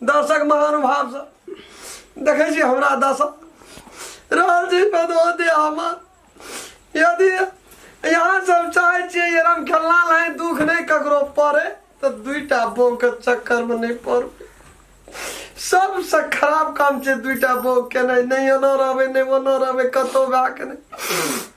दर्शक महानुभाव सब देखे छी हमरा दशा रहल छी भदोदय हमर यदि यहाँ सब चाहे छियै ये हम खेलना लाए दुख नहीं ककरो पड़े तो दुईटा बो के चक्कर में नहीं पड़बे सबसे खराब काम छै दुईटा बो केनाइ नहि एना रहबै नहि ओना रहबै कतहु भए के नहि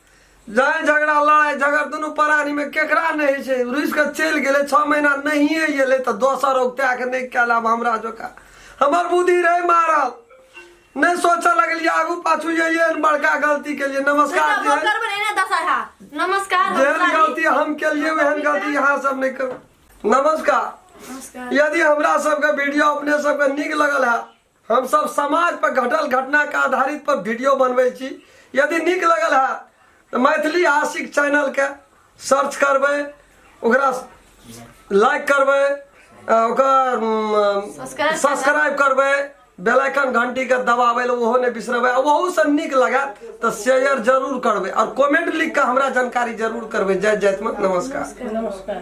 जाय झगड़ा लड़ाई झगड़ दुनू प्राणी में केकरा नहीं है छै रुस के चल गए छः महीना नहीं अल तो दोसर उगता के नहीं कल अब हमरा जोका हमर बुद्धि रहे मारल नहीं सोच लगल आगू पाछू ये बड़का गलती के लिए नमस्कार नमस्कार जेहन गलती हम के लिए वहन गलती यहाँ सब नहीं करू नमस्कार यदि हमरा सबके वीडियो अपने सबके निक लगल है हम सब समाज पर घटल घटना के आधारित पर वीडियो बनबै छी यदि नीक लगल है तो मैथिली आशिक चैनल के सर्च करबै ओकरा लाइक करबै अ, ओकर Subscribe सब्सक्राइब करबै बेल आइकन घंटी के दबाबै लए ओहो नहि बिसरबै आ ओहू से नीक लागत तऽ शेयर जरूर करबै और कमेंट लिख के हमरा जानकारी जरूर करबै जय जयतमे नमस्कार नमस्कार